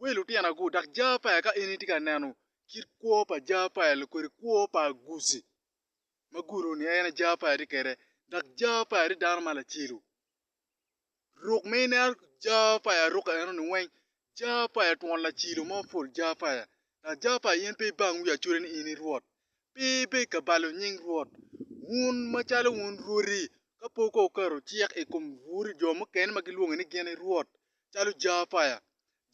Wel lutinago, dok ja pa i ka in itye ka neno kit kwo pa ja pa i kodi kwo pa aguci ma gudo ni en aye ja pa i tye kwede dok ja pa i tye dano ma lacelu ruk ma i neno ja pa i aruka eno ni weng ja pa i twon lacilo mo pol ja pa i dok ja pa i in pe ibang wi acoda ni in i rwot pe ibed ka balo nying rwot wun ma calo wun rwodi ka pud ka wuketo cik i kom bur jo mukene ma gilwongi ni gin i rwot calo Jehoapaia,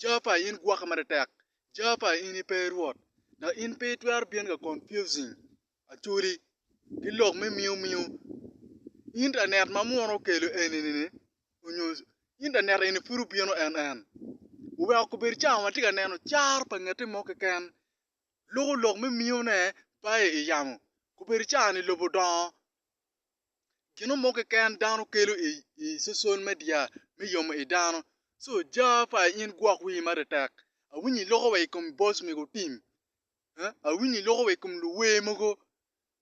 Jehoapaia in gwoka matetek, Jehoapaia in ipe i Rwot, dok in pe itwero bino ka confusing Acholi ki lok me miu miu. Internet ma munu okelo eni-ni onyo internet eni pud obino en en, wuweko kubed cawa watye ka neno caro pa ngete mo keken, luko lok me miune bayo iyamo, kubed cawa-ni lobo dongo Gino mo keken dano kelo i social media me yomo i dano. So ja pa in gwok wii matetek. Awinyo iloko wa i kom boss mego tim. Awinyo iloko wa i kom luwer mogo.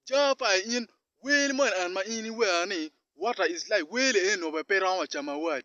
Ja pa in wer moni en ma in iwero ni water is life. Wer li eno bene pe romo wa camo awad.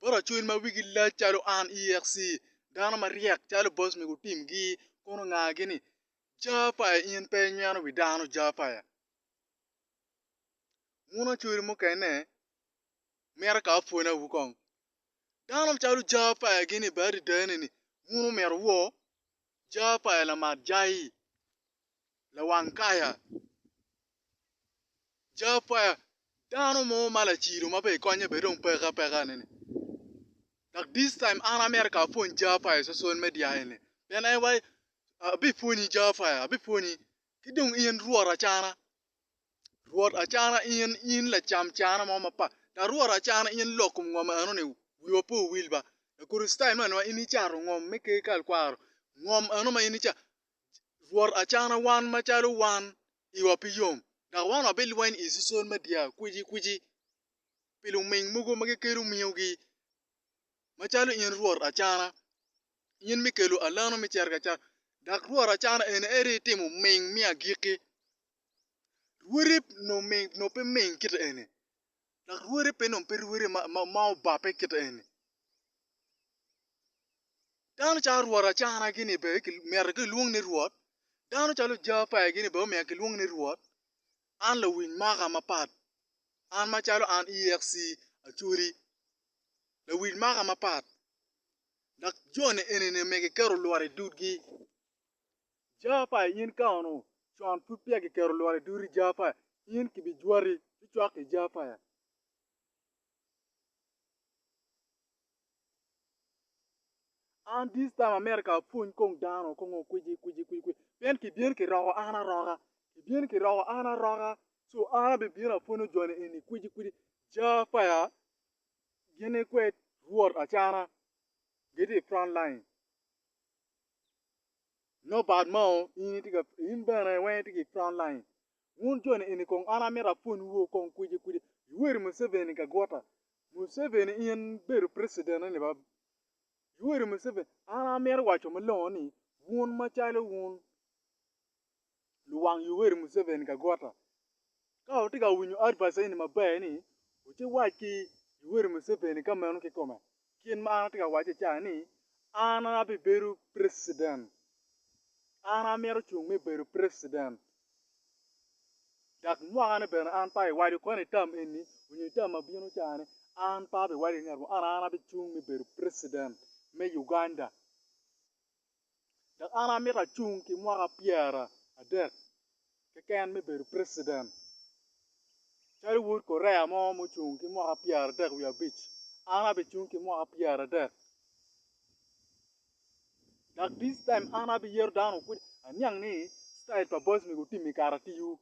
bot acwiny ma wigi lac calo an, EXC, dano maryek calo boc mego otimgi, kun ongagi ni, Jafaya in pe inyweno wi dano, Jafaya. Wun acwiri mukene, mito ka apwonawu kong. Dano calo Jafaya gin i bade adada-ni ni, wun omito woo, Jar pa Elamat Jai, lawang kaya. Jar pa dano mo ma lacido ma bene konye bene dong peke apeka ni ni. Dok this time an amito ka apwony jar pa i social media eni. Pien en wai, abipwonyi jar pa, abipwonyi. Ki dong in Rwot acana. Rwot Acana in, in lacam cana mo mapat, dok Rwot Acana in lok kom ngom eno-ni, wiwa pe owil ba. Lakricitayo me anomaa, in icato ngom me Ker ka ikwaro, ngom eno ma in icato. Rwot Acana, wan macalo wan, iwa pe yom, dok wan wabilweny i sosol me dyakwici kwici pi luming mogo ma gikelo mingogi. macalo in Rwot Acana, in mi kelo alano me cargi acar, dok Rwot Acana eni aye rii timo ming me agikki. Rwodi nongo pe ming kite eni, dok rwodi pe nongo pe rwodi ma obabbe kite eni. Dano calo Rwot Acana gini bene myero gilwong ni Rwot, dano calo Jaapae gini bene myero gilwong ni Rwot, An lawiny maka mapat, an macalo an EXC Acholi, lawiny maka mapat dok joni enini myero giketo lworo i dudgi. Jami pa in ka onongo con pud peya kiketo lworo i duti jami pa in kibijwati ci cwak ki jami pa. An this time America apwony kong dano kong kwici kwici kwici pien kibyen kiroko an aroka kibyen kiroko an aroka so an abibino apwonyo joni eni kwici kwici ja peya gin ikwed rwot acana gitye i front line no bad mao in bene weng itye ki front line Wun joni eni kong an amito apwony wu kong kwidi kwidi, Yoweri Museveni Kagwota, Museveni in bedo president eni ba, Yoweri Museveni an amito waco malongo ni wun macalo wun luwang Yoweri Museveni Kagwota ka wutye ka winyo advice eni maber ni wuci wac ki Yoweri Museveni ka meno kikome Gin ma an atye ka wacce ca ni an abibedo president. An amito cung me bedo president. Dok mwaka ni bene an pe abiwaco koni tam eni onyo i tam ma bino ca ni an pe abiwaco ki ngat mo an an abicung me bedo president me Uganda. dok an amito acung ki mwaka pyera adek keken me bedo preciden. Calo wod Korea mo mucung ki mwaka pyera adek wiye abic, an abicung ki mwaka pyera adek. Dok this time an abiyeto dano kudi aniang ni style pa boys mego otim i karatiyu.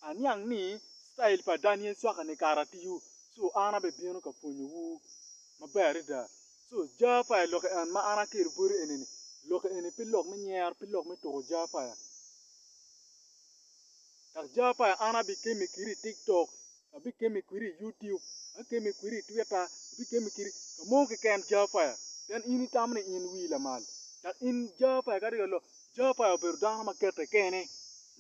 Aniang ni citail pa Daniel cwakane kare atiyo, co an abibino ka pwonyowu maber adada. Co Japaya lok en ma an akelo boti eni-ni, lok eni pe lok me nyero, pe lok me tuko Japaya. Dok Japaya an abikemme kiri i tik tok. Abikemi kwiri i Youtube, akemi kwiri i Twitter, abikemi kiri ka mo keken Jafaya, pien in itamo ni in wii lamal. Dok in Jafaya ka riyo lok, Jafaya obedo dano ma kete kene,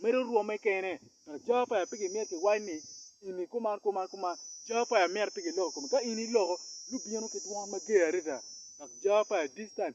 medo rwomme kene, dok Jafaya pe gimyero kiwac ni in i kuman kuman kuman, Jafaya myero pe giloko komi. Ka in iloko, lubino ki dwon mager adada, dok Jafaya this time